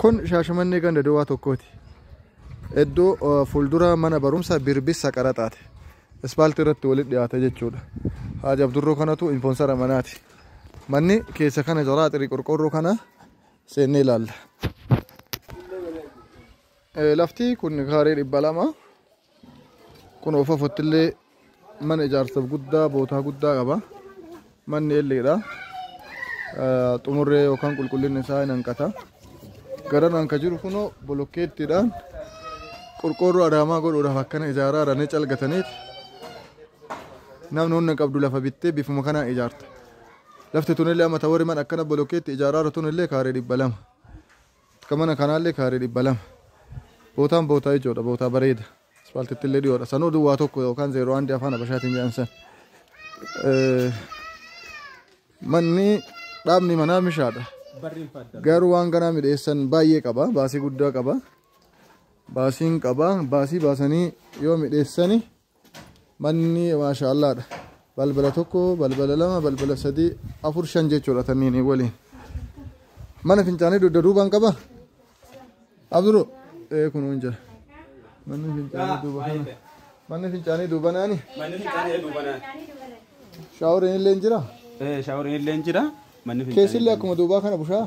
Kun shaashamannee ganda duwwaa tokkooti. Iddoo eh, fuuldura mana barumsa birbissa qaraxaati. Ispaaltii irratti walitti dhiyaata jechuudha. Haaj Abdurroo kanatu infoonsara manaati. Manni keessa kana jala xirii qorqoorroo kana seennee ilaalla. Eh, Lafti kun kaaree dhibba lama. Kun ofofotti illee mana ijaarsaaf guddaa bootaa guddaa qaba. Manni elleedha. Xumurree yookaan qulqullinni isaa hin hanqata. Garanaan kan jiru kunoo bolokkeettiidhaan qorqoorroo adaamaa godhuudhaaf akkana ijaaraa jiranii calgataniiti. Namni humna qabdu lafa bittee bifuma kanaan ijaarta. Lafti tunillee amma tawarri mana akkana bolokkeetti ijaaraa jiru tunillee kaaree dhibba lama. Ka mana kanaallee kaaree 200. Bootaan bootaa ijoodha, bootaa bareeda. Aspaaltittillee dhiyoodha. Sanuu duwwaa tokko yookaan 01 afaan Habashaatiin jedhan san. Eh, Manni dhaabni manaa mishaadha. Barriin fadda. Garuu waan ganaa midheessan baay'ee qaba. Baasii guddaa qaba. Baasiin qaba. Baasii baasanii yoo midheessani manni maashaallaadha balbala tokko balbala lama balbala sadii afur shan jechuudha tanniin waliin mana fincaanii dugda duubaan qaba abduru ee kun hin jira manni fincaanii duuba kana manni fincaanii duuba naani Manni fincaanii duuba naani. shaaworiin illee hin jira Shaaworiin illee hin jira. Manni keessillee akkuma duubaa kana bushaa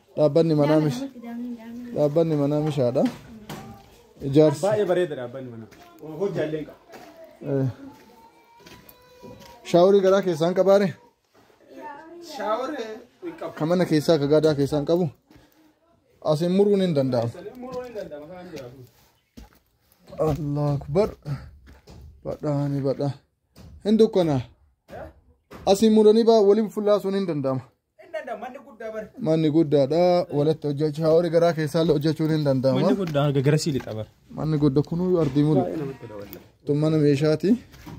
Dhaabbanni manaa mish dhaabbanni manaa mishaadha. Ijaarsi Baay'ee bareeda dhaabbanni manaa. Hojjaallee hin qabu. eh, shaaworii garaa keessaa hin qabaare Shaawar hin qabu. kan mana keessaa akka gaadaa keessaa hin qabu asiin muruun hin danda'amu. Muruu hin danda'ama kan jiraatu. Allah akbar badhaani badha hin dukkana asiin muranii baa waliin fullaasuun hin danda'ama. Hin danda'u manni guddaa bari. Manni guddaadha walitti hojjechuu haa horii garaa keessaallee hojjechuun hin Manni danda'ama. guddaa haga garasii lixa bara. Manni guddaa kunuu ardii mulu. Tun mana meeshaati.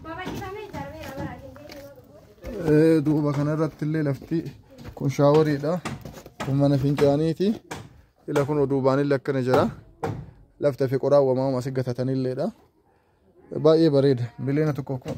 Babal'ifamee ijaarameera bara Finfinnee. Eh, Duuba kana irratti illee lafti kun shaaworiidha. Kun mana fincaaniiti. Ila kun duubaan illee akkana jira. Lafti fi qoraan wamaama asi gatatanilleedha. Baay'ee bareeda. Miliyoona tokkoof kuma